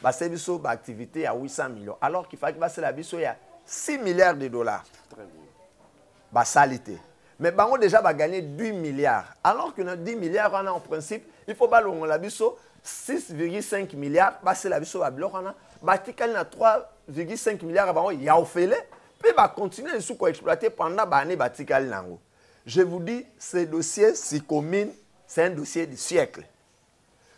basali biso baactivité ya 800 millions alors qu'il fallaki basala biso ya 6 milliards de dollars basali te mais bango déjà bagagné 10 milliards alors que na 10 milliards wana en principe il faut balongola biso 6,5 milliards basala biso babiloko wana batikali na 3,5 milliards ya bango ya ofele mpe bacontinue lisusu koexploite pendant baane batikali na yango je vous dis ce dossier si commune c'est un dossier du siècle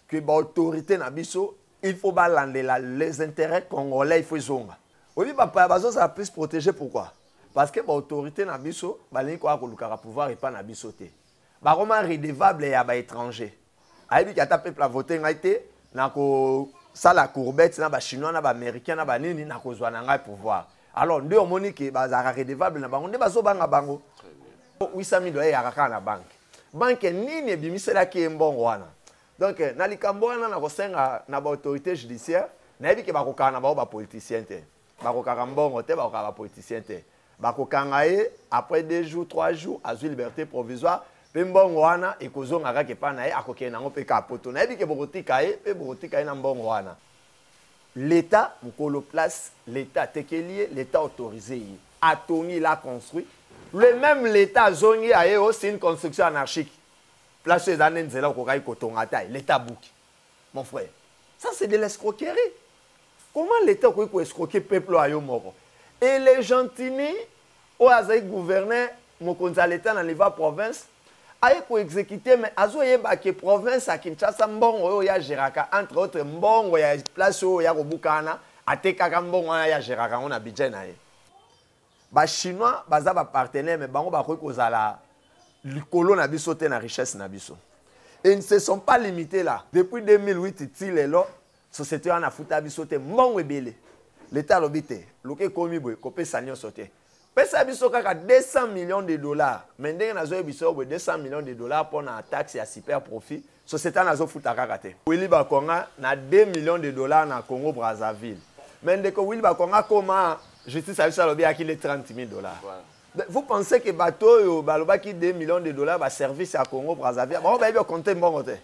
que ba autorité na biso il faut balandela les intérêts congolais il faut ezonga oyebi bapaya bazozala plus protégé pourquoi parce que baautorité na biso balingi koya kolukaka pouvoir epai na biso te bakoma redevable ya baétranger ayebi ki ata peuple avote ngai te nakosala courbette na bachinois na baaméricain na banini nakozwa na ngai pouvoir alors nde omoni ke bazalaka redevable na bango nde bazobanga bango 800 000 ayeyaka kaka na banke banke nini ebimiselaki ye mbongo wana donc na likambo wana nakosenga na baautorité judiciaire nayebi ke bakokaka na bango bapoliticien te bakokaka mbongo te bakokaka bapoliticien te bakokanga ye après deux jours trois jours azwi liberté provisoire mpe mbongo wana ekozonga kaka epai na ye akokende yango mpe kaka poto nayebi ke bokotika ye mpe bokotika ye na mbongo wana L'Etat mukolo place, l'Etat atekeli ye, l'Etat autorise ye. Atongi, il a construit. Le même l'Etat azongi aye o c'est une construction anarchique. Place eza nde nzela okokaki kotonga ata ye. L'Etat abuki. Mon frère, ça c'est de l'escroquerie. Comment l'Etat okoki ko escroquer peuple oyo yo moko? Et les gentini oyo azali gouverneur mokonzi ya leta na niveau ya province aye ko exécuter mais azoyeba ke province ya kinshasa mbongo oyo ya geraka entre autres mbongo ya place oyo ya kobuka wana atekaka mbongo wana ya geraka yango na budget na ye bachinois baza bapartenaire mais bango bakoki kozala likolo na biso te na richesse na biso et ne se sont pas limité là depuis 2008 ti lelo société wana afuta biso te mbongo ebele leta alobi te luka ekomi boye kopesa nyonso te pesa biso kaka 200 millions de dollars mais ndenge nazoyebisa yo boye 200 millions de dollars mpo na taxe ya super profit société wana azofuta kaka te wili bakonga na 2 millions de dollars na congo brazzaville mais ndeko wili bakonga akoma justice ya biso alobi yaki le 30 000 dollars voilà. vous pensez que bato oyo balobaki 2 millions de dollars baservice ya congo brazzaville bango bayebi okonte mbongo te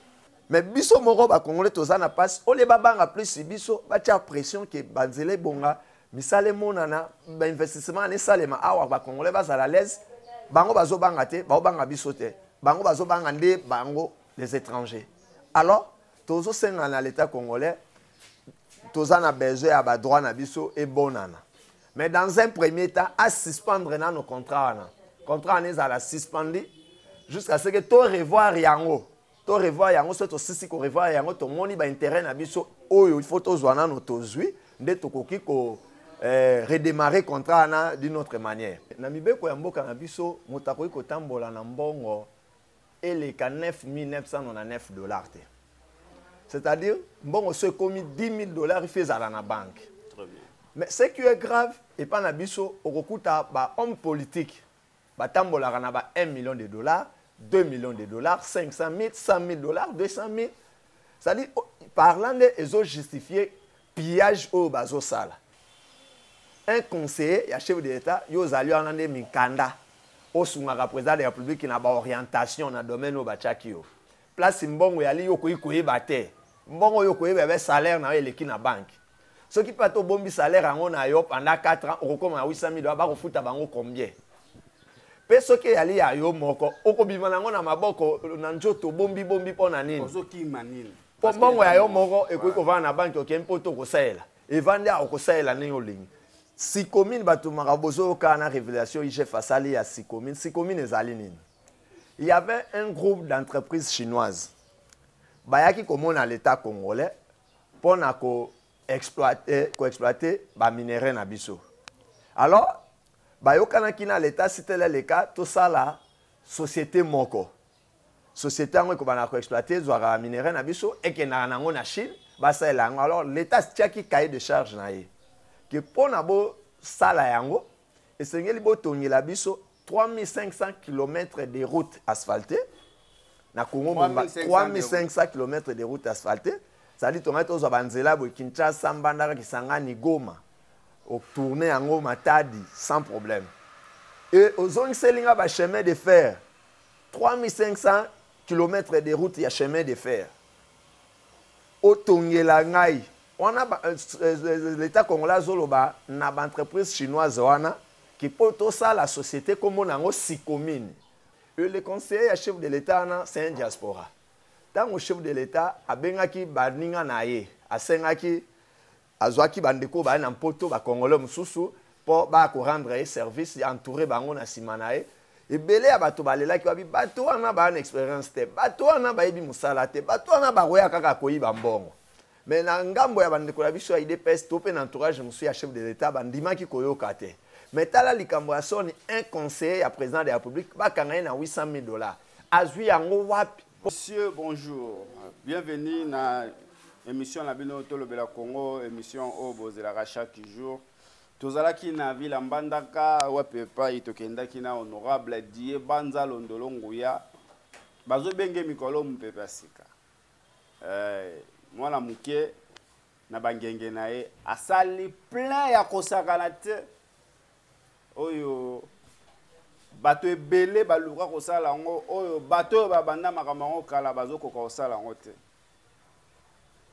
mais biso moko ba congolais toza na pasi ole babanga plus biso batia pression ke banzela ebonga misala emonana bainvestissement ana esalema awa bacongolais bazala alaise bango bazobanga te baobanga biso te bango bazobanga nde bango les étrangers alors tozosenga na l'état congolais toza na besoin ya badroit na biso ebonana mais dans un premier temps asuspendre nano contrat wana contrat wana ezala suspendi jusqu'à ce que to revoir yango to revoir yango soki tosisi ko revoir yango tomoni ba intérêt na biso oyo il faut tozwa nano tozwi nde tokoki ko eh, redémarrer contrat wana d'une autre manière na mibeko ya mboka na biso moto akoki kotambola na mbongo eleka 9999 dollars te c'est-à-dire mbongo so ekomi 10 000 dollars ifi ezala na banke mais ce qui est grave epai na biso okokuta bahomme politique batambolaka na ba 1 million de dollars 2 millions de dollars 500 000 100 000 dollars 200 000 c'est-à-dire oh, parlant nde ezojustifie pillage oyo bazosala un conseiller ya chef de l'état yo ozali wana nde mikanda osungaka président de la république na baorientation na domaine oyo batiaki yo place mbongo eyali yo okoki koyeba te mbongo oyo okoyeba ebe salaire na yo eleki na banke soki mpe ata obombi salaire yango na yo pendant 4 ans okokoma na 800 000 dola bakofuta bango combien mpe soki eyali ya yo moko okobima na yango na maboko na nzoto obombi bombi mpo na nini mpo mbongo ya yo moko ekoki kovanda na banki okei mpo to kosalela evandi awa okosalela ndenge olingi sikomine bato maka bozoyokaa na révélation igf asali ya sikomine sikomine ezali nini il y avait un groupe d'entreprise chinoise bayaki komona l'état congolais mpo na ko exploiter ko exploiter ba minerais na biso alors bayokanaki na leta sitele leka tosala société moko société yango ekobanda ko exploiter ezwaka ba minerais na biso ekendaka na yango na chine basalela yango alors leta atiaki cahier de charge na ye ke mpo na bosala yango esengeli botongela biso 3500 km de route asphaltée na congo mobimba 3500 km de route asphaltée ezali tongai tozwa banzela boye kinshasa mbandaka kisangani goma otourne yango matadi sans problème e ozongiseli nga bachemin de fer 3500 km de route ya chemin de fer otongela ngai wana euh, euh, euh, l'etat congolais azoloba na baentreprise chinoise wana ke mpo tosala société nkombo na yango sikomine le conseiller ya chef de l'état wana c'est un diaspora ntango chef de l'état abengaki baninga na ye asengaki Azwaki bandeko oyo baye na mpoto, bakongole mosusu, mpo baya korendre ye service, ya entoure bango na nsima na ye. Ebele ya bato balelaki, babi bato wana baya na experience te, bato wana bayebi mosala te, bato wana bakoya kaka koyiba mbongo. Mais na ngambo ya bandeko na biso ya udps to mpe na entourage mosusu ya chef de l'etat bandimaki koyoka te mais tala likambo ya soni un conseiller ya président de la république bakanga ye na 800 000 dollars azwi yango wapi Monsieur, bonjour. Bienvenue na émission na bino tolobela Congo, émission oyo oh, bozelaka chaque jour. tozalaki na vila mbandaka wapi epai tokendaki na honorable die banza londolo nguya bazobenge mikolo mopepe ya sika eh, mwana moke na bangenge na ye asali plein ya kosakana te oyo bato ebele baluka kosala yango oyo bato oyo babanda makambo yango kala bazokoka kosala yango te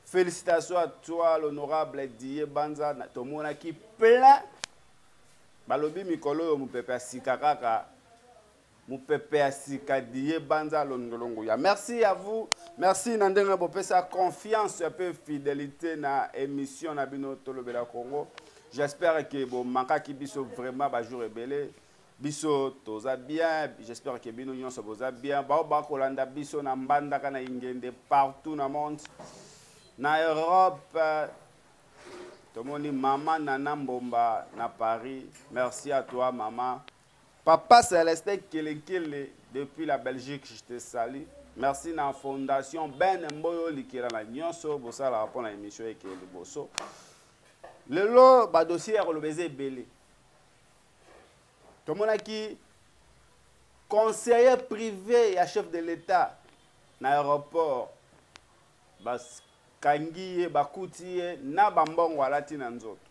félicitation à toi l'honorable die banza tomonaki plein balobi mikolo oyo mopepe ya sika kaka mupepe ya sika diye banza londolongoya merci à vous merci na ndenge bopesa confiance mpe fidélité na émission na bino tolobela congo j'espère que bomankaki biso vraiment bajour ebele biso toza bien j'espère que bino nyonso boza bien bao bakolanda biso na mbandaka na ingende partout na monde na europe tomoni mama nana mbomba na paris merci à toi mama Papa Celestin Kelenkele depuis la Belgique, je te salue. Merci na fondation Ben Mboyo likela na nyonso bosala rapport na émission eke liboso. Lelo ba dossier ya koloba eza ebele. Tomonaki conseiller privé ya chef de l'État na aéroport bas kangi ye bakuti ye na bambongo alati na nzoto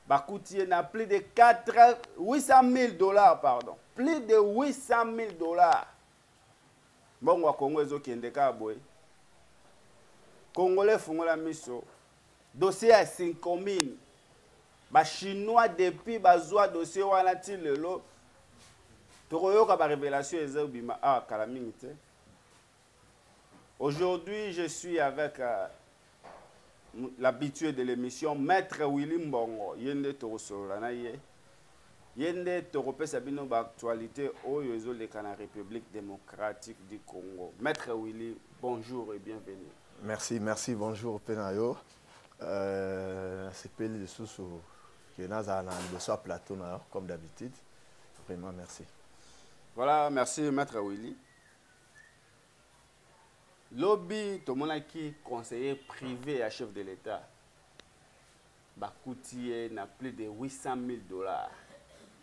bakuti ye na plus de 4 800 000 dollars pardon plus de 800 000 dollars mbongo ya kongo ezokende kaka boye kongole efungola miso dossier ya sinkomine bachinois depuis bazwa dossier wana ti lelo tokoyoka barevelation ezobima awa ah, kala mingi te Aujourd'hui, je suis avec euh, l'habitué de l'émission, Maître Willy Mbongo. Yende Torosolola na ye. Yende Toropesa bino ba actualité oyo ezoleka na République démocratique du Congo. Maître Willy, bonjour et bienvenue. Merci, merci, bonjour Penayo. Euh, sepeli lisusu ke nazala na liboso ya plateau na yo comme d'habitude vraiment merci voilà merci maître willy lobi tomonaki conseiller privé ya chef de l'etat bakuti ye na plus de 800 000 dollars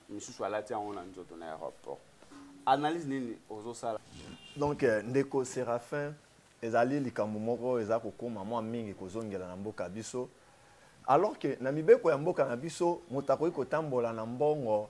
misusu alati yango na nzoto na aéroport analyse nini ozosala donc euh, ndeko séraphin ezali likambo moko eza kokoma mwa mingi kozongela na mboka biso alors que na mibeko ya mboka na biso moto akoki kotambola na mbongo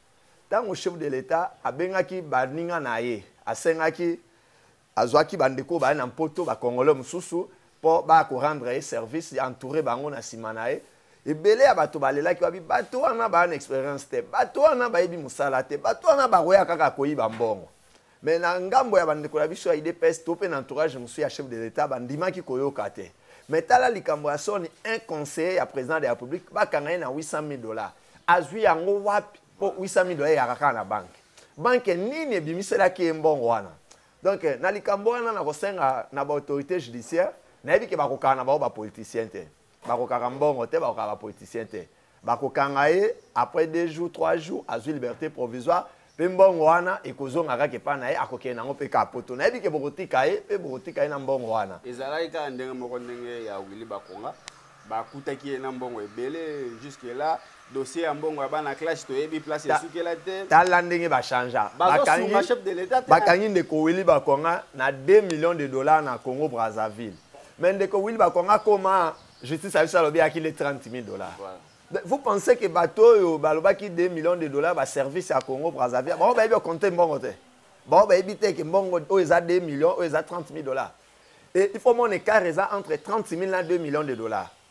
ntango chef de l'etat abengaki baninga na ye asengaki azwaki bandeko baya na mpoto bacongolais mosusu mpo baya korendre ye service ya entoure bango na nsima na ye ebele ya bato balelaki babi bato wana baya na experience te bato wana bayebi mosala te bato wana bakoya kaka koyiba mbongo Mais na ngambo ya bandeko na biso ya UDPS to pe na entourage mosusu ya chef de l'etat bandimaki koyoka te. Mais tala likambo ya soni un conseiller ya président de la République bakanga ye na 800 000 dollars. Azwi yango wapi? Po 800 000 dollars eyaka kaka na banque. Banque nini ebimiselaki ye mbongo wana? Donc na likambo wana nakosenga na ba autorités judiciaires nayebi ke bakokana na bango ba politiciens te. bakokaka mbongo te bakokaka bapoliticien te bakokanga ye après deux jours trois jours azwi liberté provisoire mpe mbongo wana ekozonga kaka epai na ye akokende yango mpe kaka poto nayebi ke bokotika ye mpe bokotika ye na mbongo wana ezalaki kaka ndenge moko ndenge ya wili bakonga bakutaki ye na mbongo ebele jusque là dossier ya mbongo ya bana clash toyebi place esukela te tala ndenge bachangea bakangi ndeko wili bakonga na 2 millions de dollars na congo brazzaville mais ndeko wili bakonga akoma justice ya biso alobi yaki le 30 000 dollars voilà. vous pensez que bato oyo balobaki 2 millions de dollars baservice ya congo brazzaville bango bayebi okonte mbongo te bango bayebi te ke mbongo oyo eza 2 millions oyo eza 30 000 dollars et il faut mon écart eza entre 30 000 na 2 millions de dollars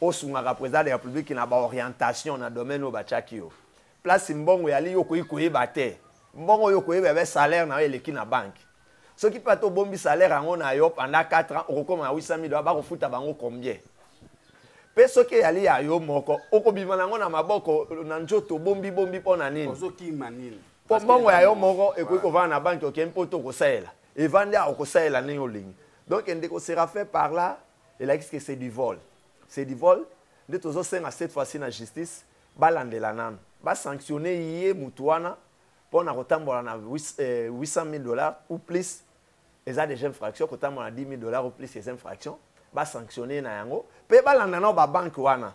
osungaka president de la republique na baorientation na domaine oyo batiaki yo place mbongo eyali yo okoki koyeba te mbongo oyo okoyeba ebe salaire na yo eleki na banke soki mpe ata obombi salaire yango na yo pendant 4 ans okokoma na 800 000 dola bakofuta bango combien mpe soki eyali ya yo moko okobima na yango na maboko na nzoto bombibombi mpo na nini mpo mbongo ya yo moko ekoki kovanda na banke okei mpo to kosalela evandi awa okosalela ndenge olingi donc ndeko serafe par là elakisi ke c'est du vol c'est du vol nde tozosenga cette fois-ci na justice balandela nanu basanctionne ye motu wana mpo na kotambola na 800 eh, 000 dollars ou plus eza déjà infraction kotambola na 10 000 dollars ou plus eza infraction basanctionne ye na yango mpe balanda nao babanke wana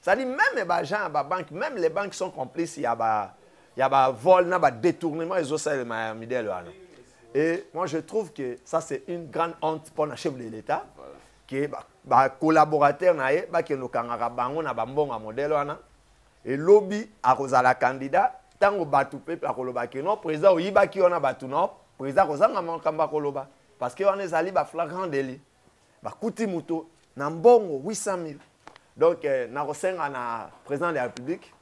Ça dit même ba gens ba banque, même les banques sont complices ya ba ya ba vol na ba détournement ezo sala ma midèle wana. Et moi je trouve que ça c'est une grande honte pour un chef de l'État voilà. que ba, ba collaborateurs na ye ba ke no kangaka bango na ba mbonga modèle wana. Et lobby akozala candidat tango batu pe akoloba que non président oyibaki wana batu non président kozanga makambo akoloba parce que wana ezali ba flagrant délit. bakuti moto na mbongo 800 000 donc eh, nakosenga na président de la république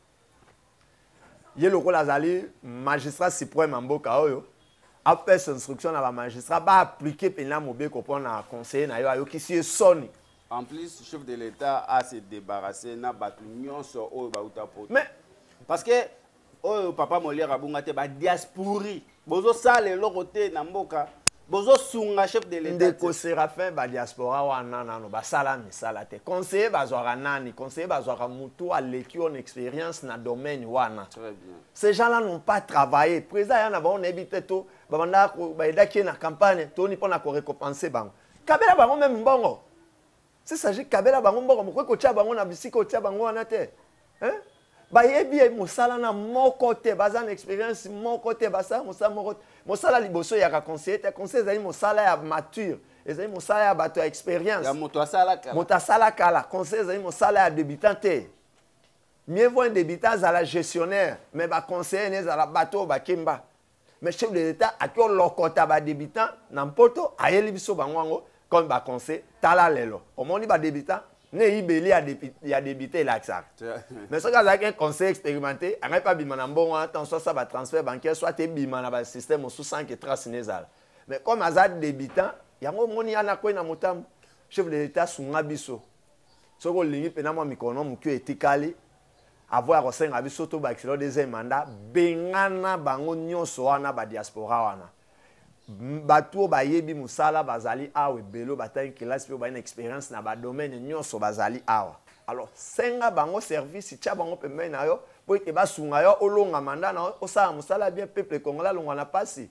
ye lokola azali magistrat suprême ya mboka oyo apesa instruction na bamagistrat baaplike mpenza mobeko mpo na conseiller na yo ayokisi ye soni en plus chef de l'état a se débarrasser na bato nyonso oyo bauta poto mais parce que oyo papa moliere abunga te badiaspori bozosala eloko te na mboka bozosunga chef de l'etat ndeko séraphin badiaspora wana nano basala misala te conseiller bazwaka nani conseiller bazwaka motu aleki on expérience na domaine wana ces gens là n'ont pas travaillé président ya na bango nayebi te to babandaki bayedaki ye na campagne toni mpo na korécompense bango kabela bango meme mbongo C'est ça, j'ai kabela bango mboko moko kotia bango na bisika otia bango wana te. Hein? bayebi ye mosala na moko te baza na expérience moko te basala mosala moko te mosala liboso eyaka conseiller te conseil ezali mosala ya mature ezali mosala ya bato ya expérience moto asala kala conseil ezali mosala ya débutant te mieux vaut un débutant azala gestionnaire mais baconseiller ne ezala bato oyo bakemba mais chef de l'état ake olokota badebutant na mpoto ayeli biso bango yango comme baconseil tala lelo omoni badebutant ne eyibeli ya debute elakisaka mais soki azalaki un conseil expérimenté angai mpe abima na mbongo wana ntango soit sa batransfert bancaire soit ebima na basystème mosusu sans que trace ne ezala mais comme aza debutant yango omoni ya nakwei na motambo chef de l'état asunga biso soki olingi mpe na mwa mikolo mwa moke etikali Avant ya kosenga biso to bakisela deuxième mandat, bengana bango nyonso wana ba diaspora wana. Bato oyo bayebi mosala bazali awa ebele batangi kelasi mpe baye na expérience na badomaine nyonso bazali awa. Alors senga bango service, tya bango pembeni na yo mpo ete basunga yo olonga mandat na yo osala mosala bien peuple congolais alongwa na mpasi.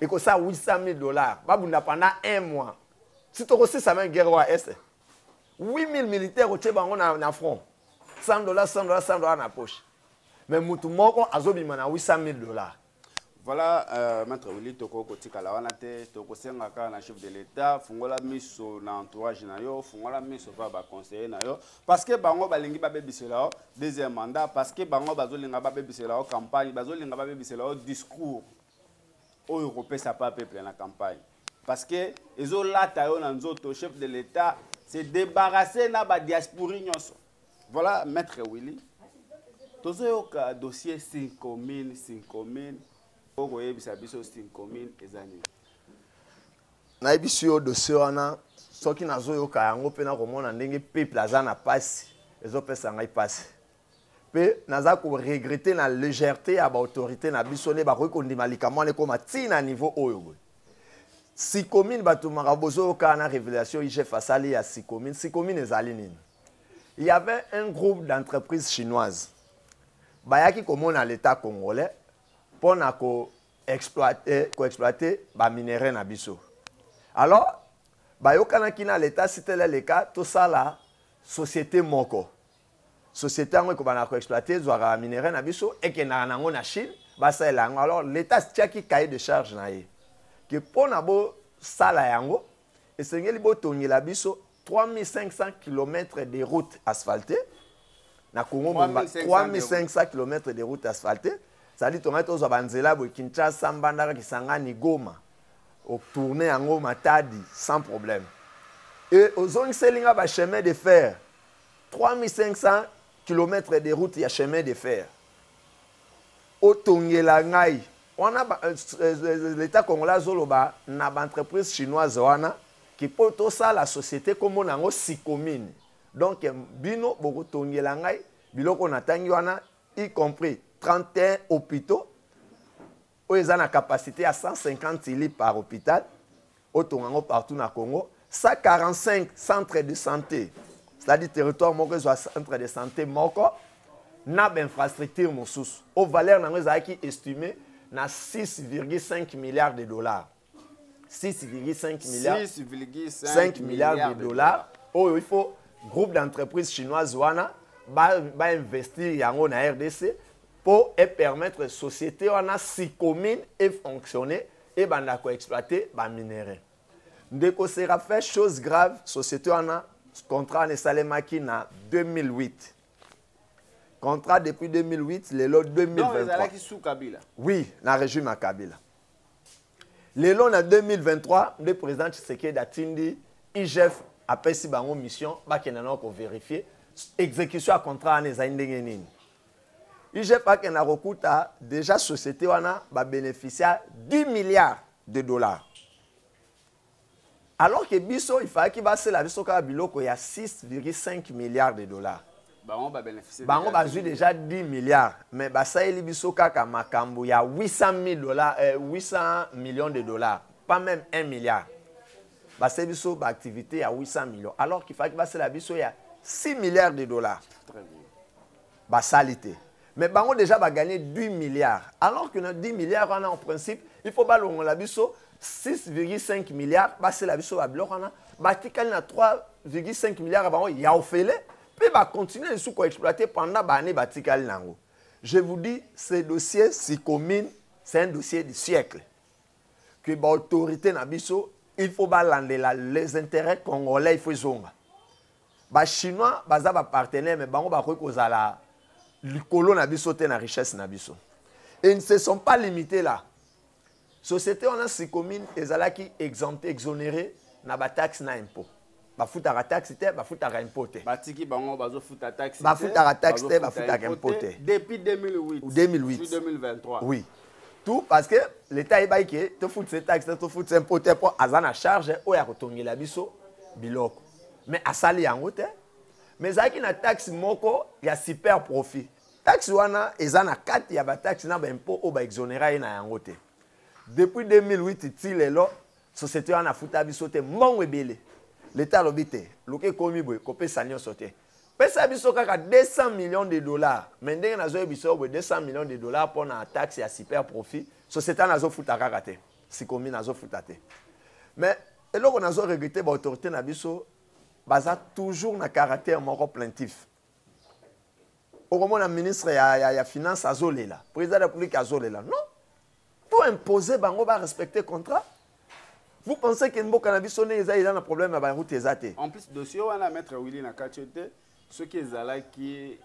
ekosa 800 000 dollars babunda pendant un mois si tokosisa meme guerre oyo este 8000 militaire otie bango na, na front 100 dollars 100 dollars 100 dollars na poche mais motu moko azobima na 800 000 dollars voilà euh, maître wili tokoki kotikala wana te tokosenga kaka na chef de l'état fungola miso na entourage na yo fungola miso mpa baconseiller na yo parce que bango balingi babebisela yo deuxième mandat parce que bango bazolinga babebisela yo campagne bazolinga babebisela yo discours oyo kopesa pa peuple na campagne parce que ezolata yo na nzoto chef de l'etat se débarrasser na ba diaspori nyonso voilà maître willy tozoyoka dossier sinkomine sinkomine oyo koyebisa biso sinkomine eza nini nayebisi yo dossier wana soki nazoyoka yango mpe nakomona ndenge peuple aza na mpasi ezopesa ngai mpasi mpe naza koregrete na légèreté ya baautorité na biso nde bakoki kondima likambo wana ekoma ntina na niveau oyo boye sikomine bato makambo bozoyokaa na révélation igf asali ya sikomine sikomine ezali nini il y avait un groupe d'entreprise chinoise bayaki komona l'état congolais mpo na koexploite koexploite baminerai na biso alors bayokanaki na l'état sitele leka tosala société moko société yango ekobanda koexploite ezwaka baminerai na biso ekendaka na yango na chine basalela yango alors l'état atiaki cahier de charge na ye ke mpo na bosala yango esengeli botongela biso 3500 km de route asphaltée na congo mobimba 3500 km de route asphaltée ezali tongaki tozwa banzela boye kinshasa mbandaka kisangani goma otourne yango matadi sans problème e ozongiseli nga bachemin de fer 3500 kilomètre de route ya chemin de fer otongela ngai wana euh, euh, euh, l'état congolais azoloba na baentreprise chinoise wana ke mpo tosala société nkombo na yango sikomine donc bino bokotongela ngai biloko natangi wana y compris 31 hôpitaux oyo eza na capacité ya 150 lits par hôpital otonga yango partout na congo 145 centre de santé c'est-à-dire territoire moko ezwa centre de santé moko na bainfrastructure mosusu oyo valeur na yango ezalaki estimé na 6,5 milliards de dollars 6,5 milliards 6,5 milliards de dollars oyo il faut groupe d'entreprise chinoise wana bainvestir ba yango na rdc mpo epermettre société wana sicommune efonctionne ebanda koexploite baminerais ndeko serafin chose grave société wana contrat wana esalemaki na 2008 contrat depuis 2008 lelo 2023 oui na régime ya kabila lelo na 2023 nde président tshisekedi atindi igf apesi bango mission bakenda nao koverifie exécution ya contrat wana ezali ndenge nini igf akenda kokuta déjà société wana babénéficia 10 milliards de dollars alors que biso il fallaki basela biso kaka biloko ya 6,5 milliards de dollars bango bazwi déjà 10 milliards mais basaleli biso kaka makambo ya 800 000 dollars, euh, 800 millions de dollars pas même 1 milliard basali biso baactivité ya 800 millions alors qu'il fallaki basela biso ya 6 milliards de dollars Très bien. Ba sali te. Mais bango dejà ba gagner 10 milliards. Alors que na 10 milliards wana en principe, il faut balongola biso 6,5 milliards basela biso ba biloko wana batikali na 3,5 milliards ya bango ya ofele mpe bacontinue lisusu koexploite pendant baannée batikali na yango je vous dis ce dossier sikomine c'est un dossier du siècle que baautorité na biso il faut balandela les intérêts congolais il faut ezonga ba chinois baza ba partenaire mais bango bakoki kozala likolo na biso te na richesse na biso et ne se sont pas limités là société wana sikomine ezalaki exempté exonéré na bataxe na impôt bafutaka taxe te bafutaka impôt te batiki bango bazofuta taxe bafutaka taxe te bafutaka impôt te depuis 2008 2008 2023 oui tout parce que l'état ayebaki ke tofutisa taxe te tofutisa impôt te mpo aza na charge oyo akotongela biso biloko mais asali yango te mais ezalaki na taxe moko ya super profit taxe wana eza na kati ya bataxe na baimpôt oyo baexonera ye na yango te depuis 2008 ti lelo société wana afuta biso te mbongo ebele leta alobi te luka ekomi boye kopesa nyonso te pesa biso kaka 200 millions de dollars mais ndenge nazoyebisa yo boye 200 millions de dollars mpo na taxe ya super profit société wana azofuta kaka te sikomi nazofuta te mais eloko nazo regrete ba autorité na biso baza toujours na caractère moko plaintif okomona ministre ya, ya, ya finance azolela président ya république azolela non to impose bango ba respecte contrat vous pensez que mboka na biso nde eza eza na problème ya baroute eza te en plus dossier wana maître willi na kati te soki ezalaki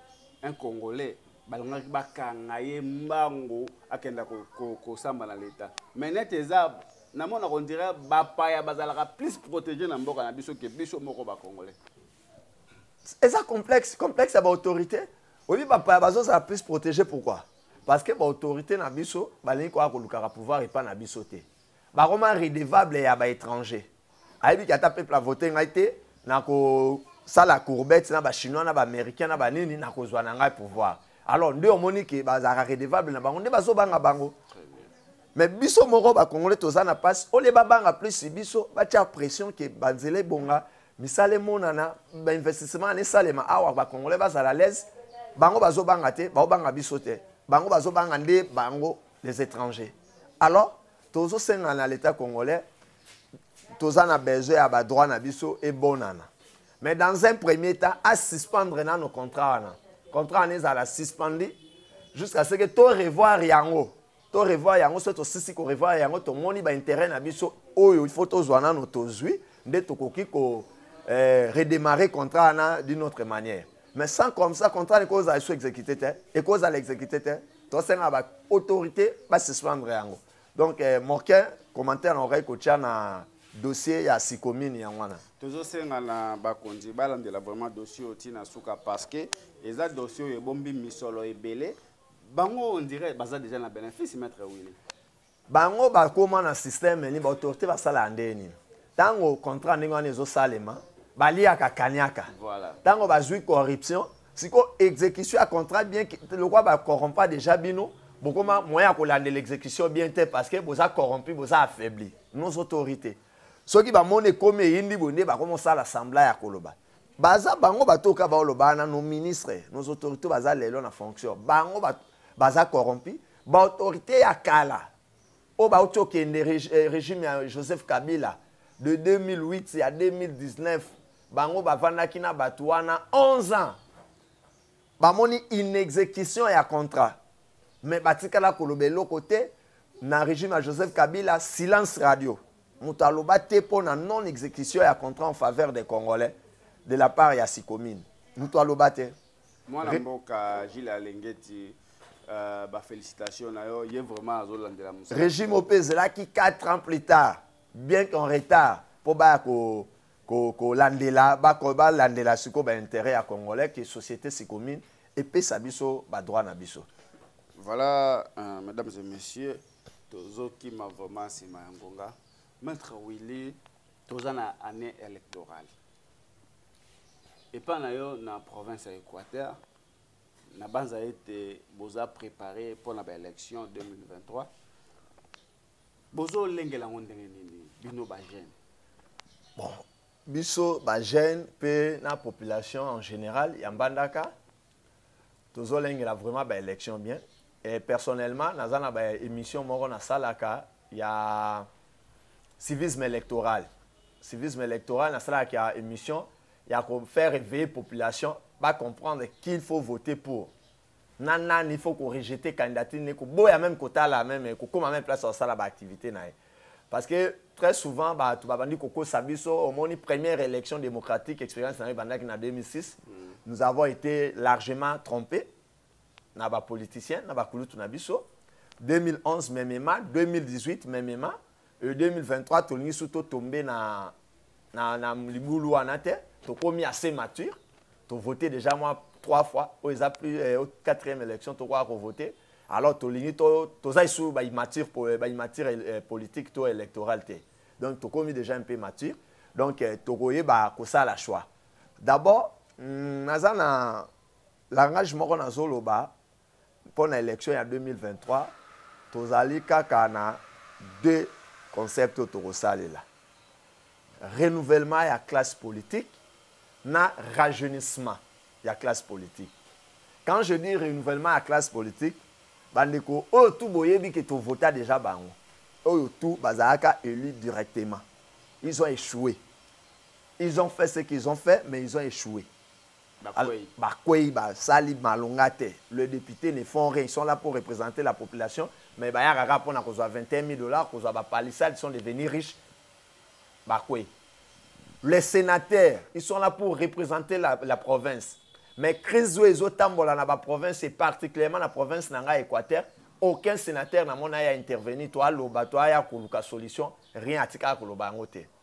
un congolais balingaki bakanga ye mbangu akenda kosamba na leta mai nete eza namona kondire bapaya bazalaka plus protege na mboka na biso ke biso moko bacongolais eza complexe complexe ya baautorité oyebi bapaya bazozala plus protege pourquoi parce que baautorité na biso balingi koya kolukaka pouvoir epai na biso te bakoma redevable ya baétranger ayebi ke ata peuple avote ngai te nakosala courbette na bachinois na baaméricain na banini nakozwa na ngai pouvoir alors nde omoni ke bazalaka redevable na bango nde bazobanga bango mais biso moko bakongole toza na mpasi ole babanga plus biso batya pression ke banzela ebonga misala emonana bainvestissement ana esalema awa bakongole bazala alaise bango bazobanga te baobanga biso te bango bazobanga nde bango les étrangers alors tozosenga na l'état congolais toza na besoin ya ba droit na biso ebonana mais dans un premier temps a suspendre nano contrat wana contrat wana ezala suspendi jusqu'à ce que to revoir yango to revoir yango soki tosisi ko revoir yango tomoni ba intérêt na biso oyo il faut tozwa nano tozwi nde tokoki ko eh, redémarrer contrat wana d'une autre manière mais sans comme ça contrat niko ozala so exécuté te ekozala exécuté te tosenga ba autorité ba suspendre yango donc eh, moke commentaire naokaki kotya na dossier ya sikomini yango wana tozosenga na bakonzi balandela vraiment dossier oyo ntina suka parce que eza dossier oyo ebombi misolo ebele bango on dirait baza déjà na bénéfice maître wili bango bakóma na système nini baautorité basalaka ndenge nini ntango contrat ndenge wana ezosalema baliaka kaniaka ntango voilà. bazwi corruption siko exécution ya contrat bien lokwa ba corrompa déjà bino bokoma moyen ya kolandela exécution bien te parce que boza corrompu boza affaibli nos autorités soki bamoni ekomi eyindi boye nde bakoma osala sembla ya koloba baza bango batoka baoloba na nos ministres nos autorités baza lelo na fonction bango baza corrompu baautorité ya kala oyo bauti okende eh, régime ya joseph kabila de 2008 ya 2019 bango bavandaki na bato wana 11 ans bamoni inexécution ya contrat me batikala koloba eloko te na régime ya joseph kabila silence radio moto aloba te mpo na non exécution ya contrat en faveur des congolais de la part ya sikomine moto aloba te mwana mboka gile alengeti euh, bafélicitation na yo ye vraiment azolandela mosala régime ope ezelaki 4 ans plus tard bien qu'en retard mpo baya ko kolandela ko balandela sikoyo bainteret ya congolais ke société sikomine epesa biso badroit na biso voilà euh, mesdames et messieurs tozokima vraiment nsima ya ngonga maître willy toza na année électorale epai na yo na province ya équateur nabanza ete boza préparé mpo na baélection 2023 bozolengela yango ndenge nini bino bajeune bon biso bajeune mpe na population en général ya mbandaka tozolengela vraiment baélection bien et personnellement naza na baémission moko nasalaka ya civisme électoral civisme électoral nasalaka ya émission ya kofaire éveiller population bacomprendre qu'il faut voter pour na nani il faut ko rejeter candidature ne koboya même kotala même kokoma même place asala ba activité na ye parce que très souvent bato babandi kokosa biso omoni première élection démocratique expérience na yo ebandaki na 2006 mm. nous avons été largement trompés na bapoliticien na bakulutu na biso 2011 memema 2018 memema e 2023 tolingi su to tombe na, na, na libulu wana te tokomi assez mature tovote déjà mwa trois fois oyo eza plus eh, quatrième élection tokoka kovote alors tolingi toza lisusu baimature eh, baimature eh, politique to électorale te donc tokomi déjà un peu mature donc eh, tokoyeba kosala choix d'abord mm, naza na langage moko nazoloba mpo na election ya 2023 tozali kaka na deux concept oyo tokosalela renouvellement ya classe politique na rajeunissement ya classe politique quand je dis renouvellement ya classe politique bandeko oyo tu boyebi ke tovota déjà bango oyo tu bazalaka élu directement ils ont échoué ils ont fait ce qu'ils ont fait mais ils ont échoué bakwei basali malonga te le député ne font rien ils sont là pour représenter la population mais bayaka kaka mpona kozwa 21 000 dollars kozwa bapalissade sont devenus riches bakwei les sénateurs ils sont là pour représenter la, la province mais crise oyo ezotambola na baprovince et particulièrement na province na ngai équateur aucun sénateur na mona ya intervenir to aloba to aya koluka solution rien atikaka koloba yango te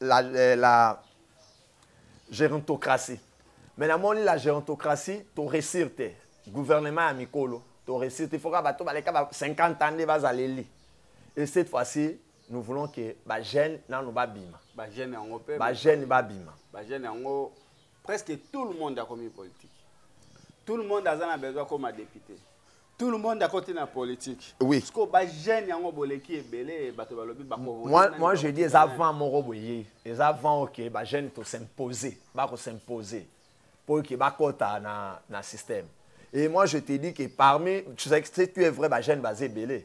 la, eh, la gerontocratie mais namoni la gerontocratie toresir te gouvernement ya mikolo toresir te foka bato baleka ba 50 ans nde bazaleli et cette fois-ci nous voulons que bajeune nano babima bajeune yango mpe bajeune babima bajeune yango presque tout le monde akomi politique tout le monde aza na besoin akoma député tout le monde akoti na politique oui siko ba jeune yango boleki ebele bato balobi bako moi moi je dis eza vent moko boye eza vent ok ba jeune to s'imposer bako s'imposer pour que bakota na na système et moi je te dis que parmi tu sais que tu es vrai ba jeune base ebele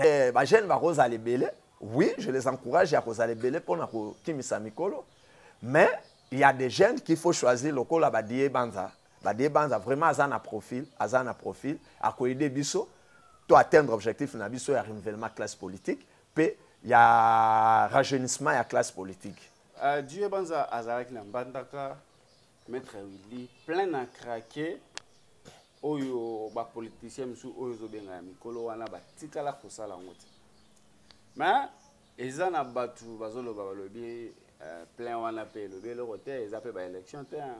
Eh, ba jeune bakozala ebele oui je les encourage ya kozala ebele mpo na kokimisa mikolo mais il y a des jeunes qu'il faut choisir lokola badie banza badie banza vraiment aza na profil aza na profil akoyede biso to atteindre objectif na biso ya renouvellement classe politique mpe ya rajeunissement ya classe politique uh, dieu banza azalaki na mbandaka Maître Willy, plein à craquer oyo ba politiciens misu oyo zo benga ya mikolo wana ba tikala ko sala ngo te. Mais eza na batu bazo loba balobi euh, plein wana pe elobi eloko te eza pe ba élection te. Hein.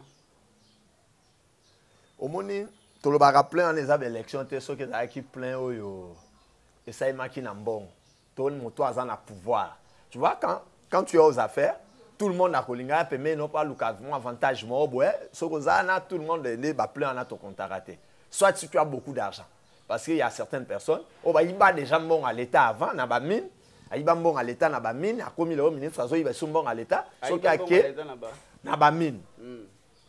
Omoni tolobaka plein wana eza ba élection te soki ezalaki plein oyo esalemaki na mbongo. to moto aza na pouvoir tu vois quand, quand tu es aux affaires tout le monde akolingaka pembeni no mpo aluka mwa avantage moko boye soki oza na tout le monde nde baplan wana tokontaka te soit si tu as beaucoup d'argent parce qu'il y a certaines personnes oyo oh, bayiba déjà mbongo ya l'état avant na bamine ayiba mbongo ya l'état na bamine akomi lelo ministre azoyiba biso mbongo ya l'état soki ake na bamine hmm.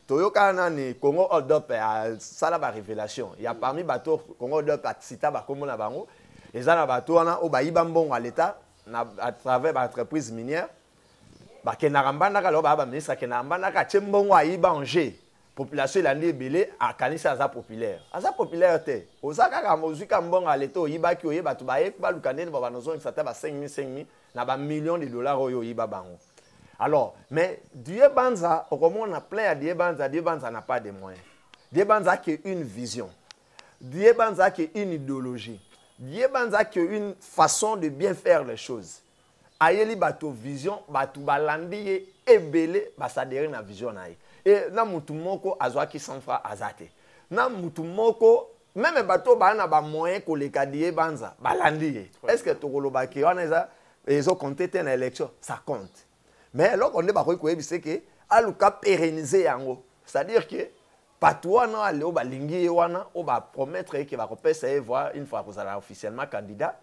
toyoka nani congo odop asala ba révélation ya parmi bato congo odop acita bakombo na bango eza na bato wana oyo bayiba mbongo ya leta na à travers ba entreprise minière bakendaka mbandaka lelo baya baministre akendaka mbandaka atie mbongo ayiba en jeu population elandi ebele akanisi aza populaire aza populaire te oza kaka ozwi ka mbongo ya leta oyibaki oye bato baye baluka ndeni babana ozongisa ata ba 5000 5000 na ba millions de dollars oyo oyiba bango alors mais die banza okomona plein ya die banza die banza na pas de moyen die banza ake une vision die banza ake une idéologie die banza ake une façon de bien faire les choses ayeli bato vision bato balandi ye ebele basadere na vision na ye e na motu moko azwaki 100 franc aza te na motu moko meme bato oyo baa na bamoyen koleka diye banza balandi ye est ce que tokoloba ke wana eza ezo compte te na élection ça compte mais eloko nde bakoki koyebisa ke aluka pérenniser yango c'est à dire que bato wana oyo aleo balingi ye wana oyo bapromettre ye ke bakopesa ye voi une fois akozala officiellement candidat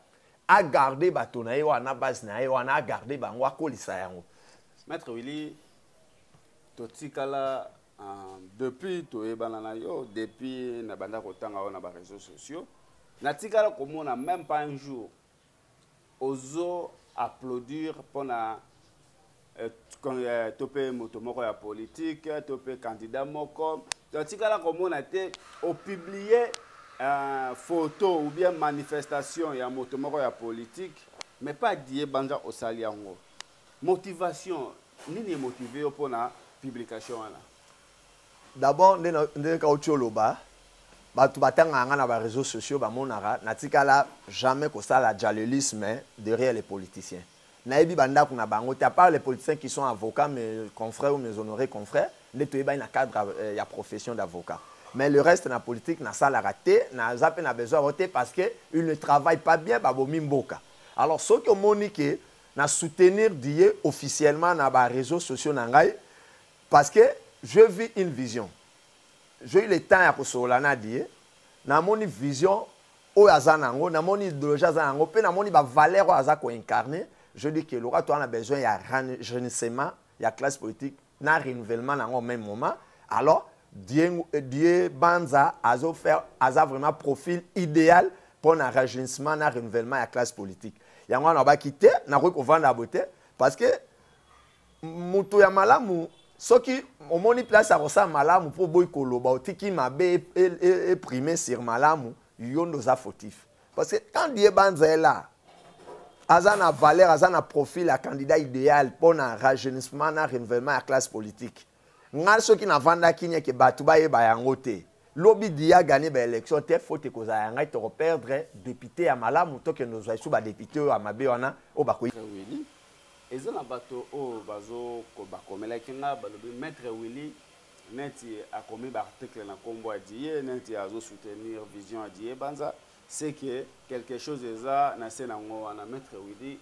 agarde bato na ye wana na base na ye wana agarde bango akolisa yango maître willy totikala Ah, depuis toyebana na yo depuis na banda kotanga yo na ba réseaux sociaux natikala komona même pas un jour ozo applaudir mpo na eh, eh, to mpe moto moko ya politike to mpe kandida moko totikala komona te opublie uh, photo ou bien manifestation ya moto moko ya politike mais pas die banza osali yango Motivation nini e motiver yo pona publication wana? D'abord nde nde kauti oloba bato batangaka nga na ba réseaux sociaux bamonaka natikala jamais kosala jalelisme derrière les politiciens nayebi bandako na bango te apart les politiciens qui sont avocats mes confrères ou mes honorés confrères nde toyebani na cadre euh, ya profession d'avocat mais le reste na politique nasalaka te naza mpe na besoin yango te parce que il ne travaille pas bien babomi mboka alors soki omoni ke Na soutenir Diye officiellement na ba reseaux sociaux na ngai parce que je vis une vision. J'ai eu le temps ya kosolola na Diye, namoni vision oyo aza na yango, namoni ideologie aza na yango mpe namoni ba valeurs oyo aza ko incarner, je dis que lokola toza na besoin ya rajeunissement ya classe politique, na renouvellement na yango même moment alors Dieu, euh, Dieu Banza azo faire aza vraiment profil idéal pour un rajeunissement na renouvellement ya classe politique yango wana abaki te nakoki kovanda ya boye te parce que moto ya malamu soki omoni place akosala malamu mpo oboyi koloba otiki mabe eprime e, e, e sur malamu yo nde oza fautif parce que quand die banza est là aza na valeur aza na profil ya candidat idéal mpo na rajeunissement na renouvellement ya classe politique ngai soki navandaki nieke bato bayeba yango te lobi dia gagné baélection te faute ekozala ya ngai tokoperdre député ya malamu tokende ozwa esu badepute oyo ya mabe wana oyo bakoyi eza na bato oyo bakomelaki nga balobi maître willy neti akomi ba article na kombo ya diye neti azo soutenir vision ya diye banza c'est que quelque chose eza na se na ngo wana maître widi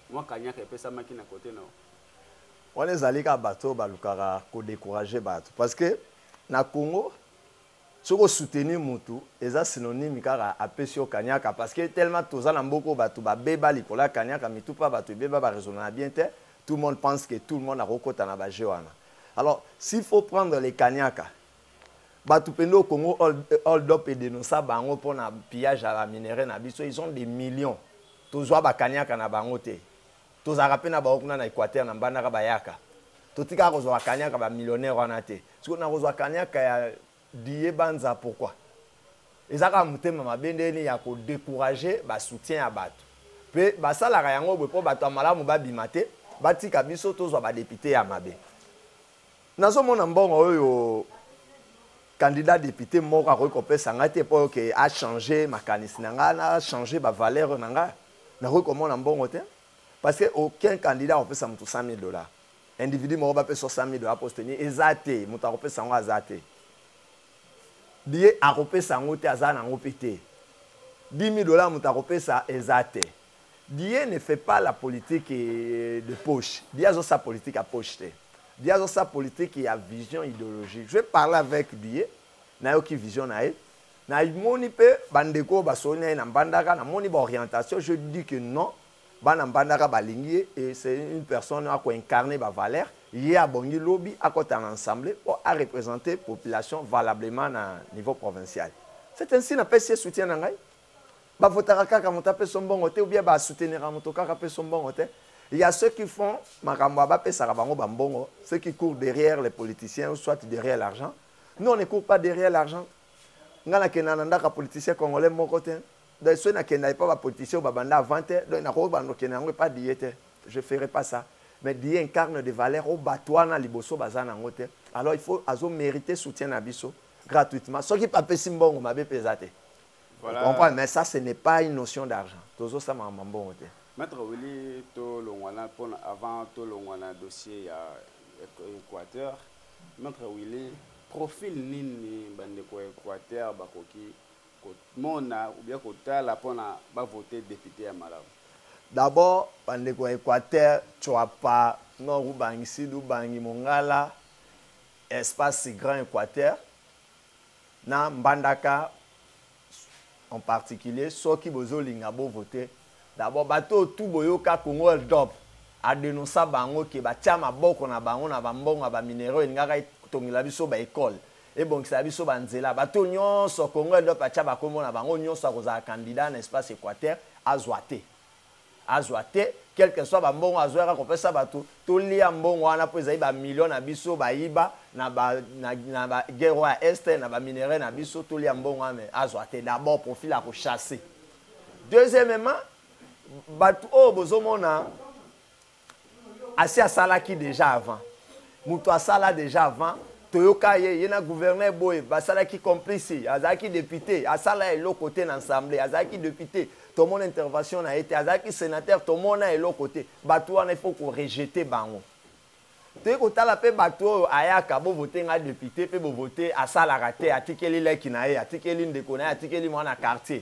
mwa kanyaka epesamaki na kote na wana ezali kaka bato oyo balukaka kodécourage bato parce que na congo Soki o soutenir mutu eza synonyme kaka apesi yo kaniaka parce que tellement toza na mboka oyo batu ba beba likolo ya kaniaka mitu pa batu ebeba ba raisonnaka bien te tout monde pense que tout le monde ako kota na ba jeux wana alors s'il faut prendre les kaniaka batu pende au Congo hold up et denoncer bango pona pillage ya ba minerais na biso ils ont des millions tozua ba kaniaka na bango te tozalaka mpe na bango kuna na équateur na mbandaka bayaka totikaka kozwa bakaniaka bamillionnaire wana te sikoyo nakozwa kaniaka ya diye banza pourkui eza kaka motema mabe ndeni ya kodecourage basoutien ya bato mpe basalaka yango boye mpo bato ya malamu babima te batika biso tozwa badepute ya mabe nazomona mbongo oyo candidat député moko akoki kopesa ngai te mpo oke achange makanisi na ngai na change bavaleur na ngai nakoki komona mbongo te parce que aucun candidat akopesa moto 100 000 dollars individu moko bapesa 100 000 dollars posteni eza te moto akopesa yango aza te biye akopesa yango te aza na yango mpe te 10 000 dollars moto akopesa eza te Dieu ne fait pas la politique euh, de poche. Dieu azo sa politique à poche te. Dieu azo sa politique ya vision idéologique. Je vais parler avec Dieu. Nayoki vision na ye. Na moni pe bandeko ba soni na mbandaka na moni ba orientation. Je dis que non. Bana mbandaka balingi ye et c'est une personne à ko incarner ba valeur. Ye abongi lobi akota na ensemble pour a représenter population valablement na niveau provincial. C'est ainsi na pesi soutien na ngai. ba votaka kaka moto apeso mbongo te oubien ba souteniraka moto kaka apeso mbongo te il y a ceux qui font makambo ya bapesaka bango bambongo ceux qui courent derrière les politiciens ou soit derrière l'argent nous on ne court pas derrière l'argent ngai nakenda na ndako ya politicien congolais moko te donc soki nakenda epa bapoliticien oyo babanda avant te donc nakoki banda okenda yango epa diye te je ferai pas ça mais diye incarne de valeur oyo bato wana liboso baza na yango te alors il faut azomérite soutien na biso gratuitement soki papesi mbongo mabe mpe eza te Voilà. Vous comprenez Mais ça, ce n'est pas une notion d'argent. Tozo ça m'a bon te. Maître Willy, to longwana pour avant to longwana dossier ya Équateur. Maître Willy, profil nini bande ko Équateur bakoki ko mona ou bien ko tala pour na ba voter député à Malawi. D'abord, bande ko Équateur, tu as pas nord ou bangi sud ou bangi mongala espace grand Équateur. na mbandaka en particulier soki bozolinga bo vote d'abord bato oyo tu boyoka congo world cup adenonsa bango ke batya maboko na bango na bambongo ya bamineraux elingaka etongela biso baekole ebongisela biso banzela bato oyo nyonso congo world cup atya bakombo na bango nyonso akozala candidat na espace équateur azwa te azwa te quelque soit bambongo azwa yaka kopesa bato tolia mbongo wana mpo ezali bamilio na biso bayiba na baguerre oyo ya este na baminerai na biso tolia mbongo wana me azwa te d'abord profil ya kochasse deuxièmement bato oyo bozomona asi asalaki deja avant moto asala deja avant toyoka ye ye na gouverneur boye basalaki complice azalaki depute asala eloko te na ensemble azalaki depute tomona intervention na ye te azalaki sénateur tomona eloko te bato wana ifo korejete bango toyei kotala mpe bato oyo ayaka bovote ngai depute mpe bovote asalaka te atikeli leki na ye atikeli ndeko na ye atikeli mwana quartier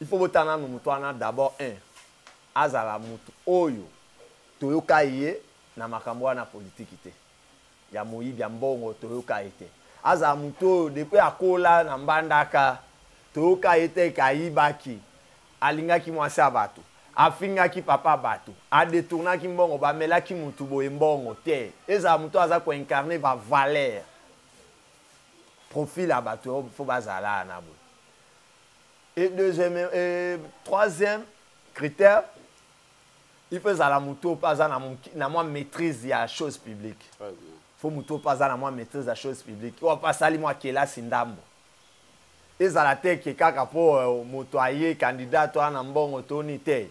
Il faut botala nanu moto wana d'abord un azala moto oyo toyoka ye na makambo wana ya politique te ya moyibi ya mbongo toyoka ye te azala moto oyo depuis akola na mbandaka toyoka ye te ke ayibaki alingaki mwasi ya bato afingaki papa bato a detournaki mbongo bamelaki moto boye mbongo te ezala moto oyo aza ko incarner ba valeur profil ya bato oyo faut bazala na boye Et deuxième, et troisième critère, il faut ezala moto oyo mpe aza na mwa maîtrise ya chose publique fo moto oyo mpe aza na mwa maîtrise ya chose publique oyo mpe asali mwa kelasi ndambo ezala te ke kaka mpo euh, moto aye kandida to ana mbongo toni te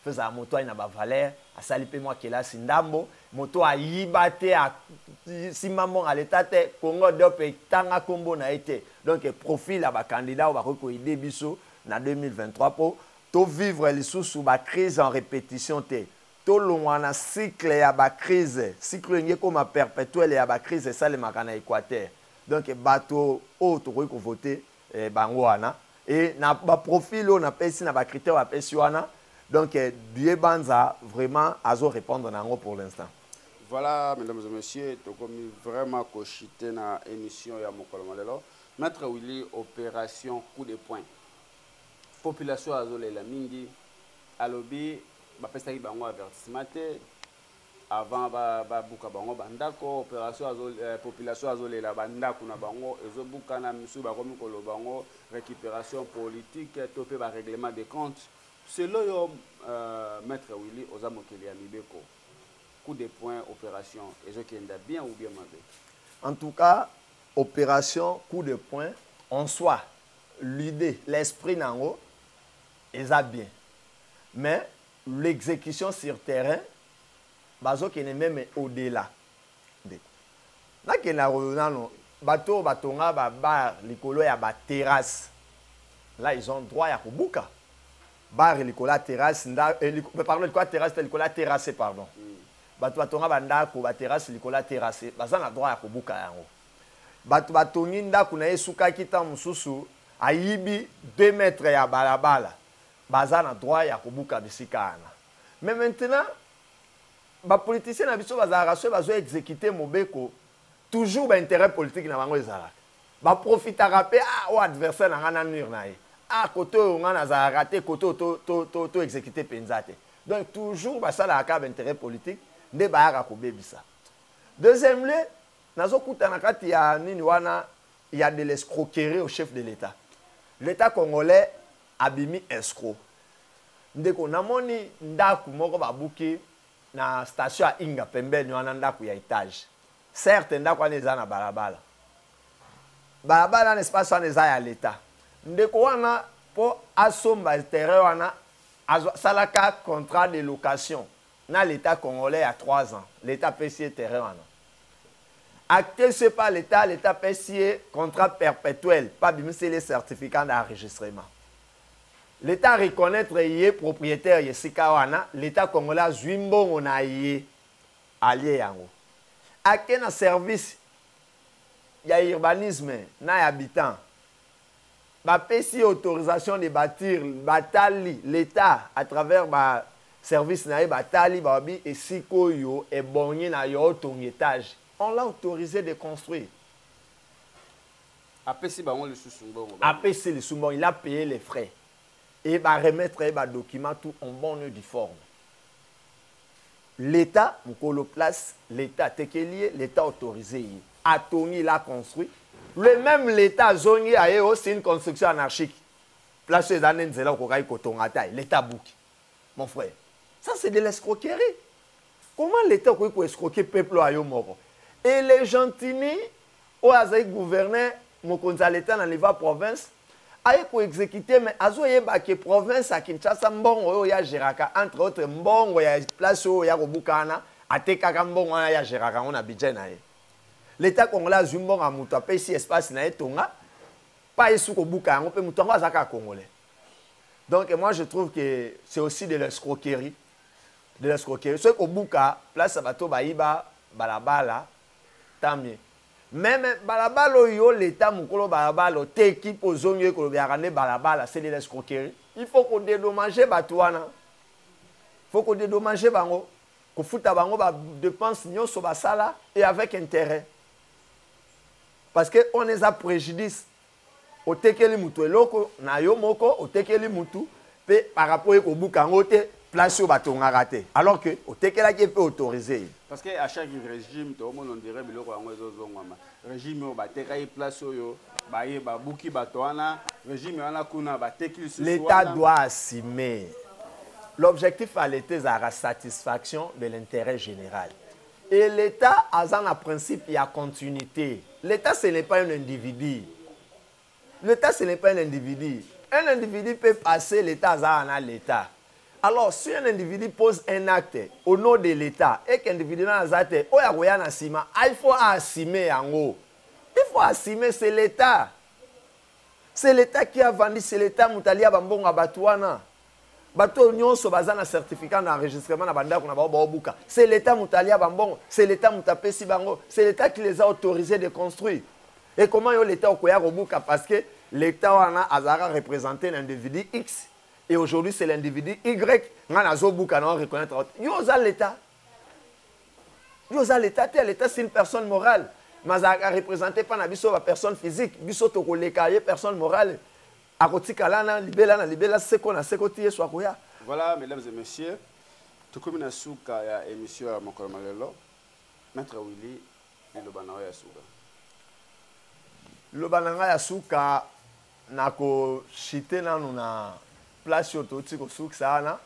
faut ezala moto aye na bavaleur asali mpe mwa kelasi ndambo moto ayiba te asimba mbongo ya leta te congo dop etanga nkombo na ye te donc profil ya bacandidat oyo bakoki koyede biso na 2023 mpo tovivre lisusu bacrise en répétition te tolongwa na cycle ya bacrise cycle oyo engi ekoma perpétuele ya bacrise esalemaka na équateur donc bato oyo tokoki kovote eh, bango wana e na baprofil oyo napesi na bacritère bapesi wana donc eh, die banza vraiment azo répondre na yango pour l'instant voilà mesdames et messieurs tokomi vraiment kochite na émission ya mokolo ma lelo maître willy opération coup de point population azolela mingi alobi bapesaki bango avertissement te avant babuka bango bandako opération azo eh, population azolela bandako na bango ezobukana misusu bakomi koloba yango récupération politique to mpe barèglement de compte selo yo euh, maître willy oza mokeli ya mibeko coup de point opération ezokenda bien ou bien mabe en tout cas opération coup de point en soi l'idée l'esprit na yango eza bien mais l'execution sur terrain bazokende meme au delà ndeko nakende akoyo nano bato oyo batonga babar likolo ya baterrasse là ils ont droit ya kobuka bar likolo ya terrasse nda eh, liko, eh, pardon likolo ya terrasse te likolo ya terrasse pardon mm. bato batonga bandako baterrasse likolo ya terrasse baza na droit ya kobuka yango bato batongi ndako na ye esukaki ntango mosusu ayibi 2 mètre ya balabala Baza na droit ya kobuka bisika wana. Mais maintenant, ba politiciens na biso bazalaka soki bazo executer mobeko, toujours ba interets politiques na bango ezalaka. Ba profitaka pe, ah oyo adversaire na nga na nuire na ye. Ah kote oyo nga nazalaka te, kote oyo to, to, to, to executer penza te. Donc toujours basalaka kaka ba interets politiques nde bayaka kobebisa. Deuxièmement, nazo kuta na kati ya nini wana, il y a de l'escroquerie au chef de l'Etat. L'Etat congolais Abimi escro. Ndeko na moni ndaku moko ba buki na station ya Inga pembeni wana ndaku ya etage. Certes ndaku wana eza na balabala. Balabala na espace wana eza ya l'etat. Ndeko wana po asomba terrain wana azo salaka contrat de location. na l'etat congolais ya trois ans l'etat apesi ye terrain wana acte ce par l'etat l'etat apesi ye contrat perpetuel mpe abimiseli ye certificat d'enregistrement l'etat reconnaître ye propriétaire ya esika wana l'etat congolais azwi mbongo na ye alie yango ake na service ya urbanisme na ya habitant Ba pesi ye autorisation de batir, ba tali, l'etat à travers ba services na ye ba tali ba lobi esika oyo ebongi na yo otonga etage. On l'a autorise de construire. Apesi bango lisusu mbongo ba. Apesi lisusu mbongo, il a paye les frais et ba remettre ye ba documents tout en bonne et due forme. L'etat mukolo place l'etat atekeli ye l'etat autorise ye atongi il a construit le meme l'etat azongi aye o c'est une construction anarchique place oyo eza nde nzela okokaki kotonga ata ye l'etat abuki mon frère ça c'est de l'escroquerie comment l'etat okoki ko escroquer peuple oyo ayo moko et le gentini oyo azali gouverneur mokonzi ya l'etat na niveau ya province aye ko exécuter mais azo yeba que province ya Kinshasa mbongo oyo ya geraka entre autres mbongo ya place oyo ya kobukana atekaka mbongo wana ya geraka yango na budget na ye l'etat congolais azwi mbongo ya moto apesi espace na ye tonga pa esu kobuka yango mpe moto yango aza kaka congolais donc moi je trouve que c'est aussi de l'escroquerie de l'escroquerie soki kobuka place ya bato bayiba balabala Tamye. Meme balabala oyo l'etat mukolo balabala oteki po ozongi oye kolobelaka nde balabala c'est de l'escroquerie. Il faut ko dedommager bato wana. Faut ko dedommager bango. Kofuta bango ba dépenses nyonso basala et avec intérêt. Parce que on eza prejudice. otekeli mutu eloko na yo moko otekeli mutu pe parapo ye kobuka yango te place oyo batongaka te alors que otekelaki ye mpe autorise ye parce que à chaque régime toomona ondire biloko yango ezozongwama régime oyo batekaki place oyo baye babuki bato wana régime wana kuna bateki lisusu l'état doit assumer l'objectif ya l'état ezalaka satisfaction de l'intérêt général Et l'Etat aza na principe ya continuite. L'Etat ce n'est pas un individu. L'Etat ce n'est pas un individu. Un individu peut passer, l'Etat aza na l'Etat. Alors, si un individu pose un acte au nom de l'État et qu'individu na aza te, oyo akoya na sima, ah, il faut assumer yango. Il faut assumer, c'est l'État. C'est l'État qui a vendu, c'est l'État moto alia bambongo ya bato wana. bato oyo nyonso baza na certificat na enregistrement na bandako na bango baobuka se leta moto alia bambongo se leta moto apesi bango se leta qui les a autorisé de construire ekoma yo leta okoya kobuka parce que leta wana azalaka représente na individu x et aujourd'hui c'est l'individu y ngai nazobuka na reconnaître yo oza leta yo oza leta te leta c'est une personne morale mais azalaka représente mpa na biso bapersonne physique biso tokoleka ye personne morale akotikala na libela na libela seko na seko ti yesu akoya voilà mesdames et messieurs tokomi na suka ya émission ya mokolo ma lelo maître willy liloba na yo ya suka liloba na ngai ya suka nakoshite nanu na place oyo touti kosukisa wana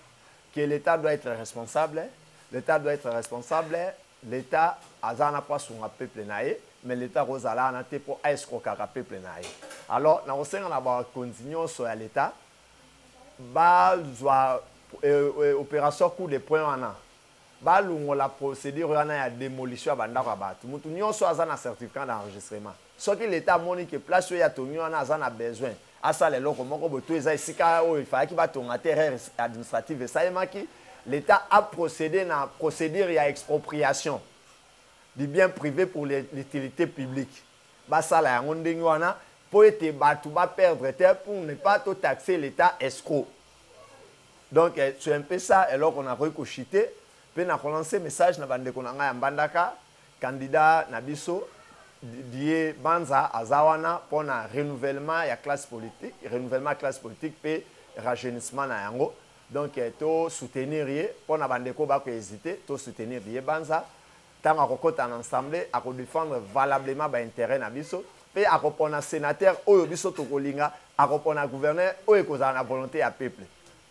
que l'etat doit etre responsable l'etat doit etre responsable l'etat aza wana mpo asunga peuple na ye mais l'etat akozala wana te mpo aescrokaka peuple na ye alors nakosenga na bakonzi nyonso ya l'etat bazwa euh, euh, opération coup de point wana balongola procédure wana ya demolition ya bandako ya bato moto nyonso aza na certificat d'enregistrement Soki l'etat amoni que place oyo atongi wana aza na besoin asala eloko moko boye to eza esika oyo efalaki batonga te erreur administrative esalemaki l'etat a procéder na procédure ya expropriation du bien privé pour l'utilité publique basala yango ndenge wana mpo ete bato ba perdre te pour ne pas to taxer l'etat escroc donc eh, c'est un peu ça eloko nakoki kochite mpe na kolancer message na bandeko na ngai ya mbandaka Candidat na biso Die Banza aza wana mpo na renouvellement ya classe politique, renouvellement ya classe politique mpe rajeunissement na yango. Donc eh, to soutenir ye mpo na bandeko bako hésiter, to soutenir Die Banza ntango akokota na ensemble akodefendre valablement baintérêt na biso mpe akopona sénateur oyo biso tokolinga akopona gouverneur oyo ekozala na volonté ya peuple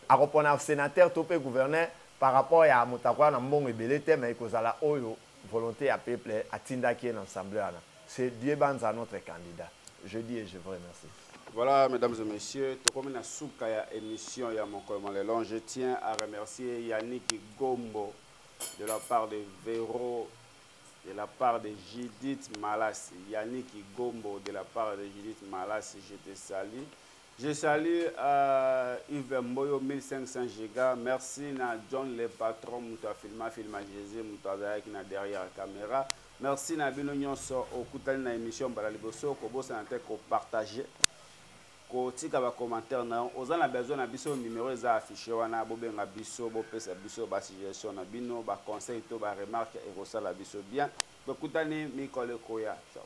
Akopona senateur to pe gouverneur par rapport ya moto akoya na mbongo ebele te mais ekozala oyo volonte ya peuple atindaki ye na ensemble wana c'est Dieu Banza notre candidat je dis et je vous remercie. Voilà mesdames et messieurs tokomi na suka ya emission ya mokolo mwa lelo je tiens à remercier Yannick Gombo de la part de Vero de la part de Judith Malas Yannick Gombo de la part de Judith Malas je te salue Je salue uh, Yves Mboyo 1500 giga. Merci na John le patron mutu afilma filma Jésus mutu azalaki na derrière caméra. Merci na bino nyonso okutani na émission mbala liboso kobosana te ko partager kotika ba commentaire na yo oza na besoin na biso numéro eza affiché wana bobenga biso bopesa biso ba suggestion na bino ba conseil to ba remarque ekosala biso bien tokutani mikolo ekoya ciao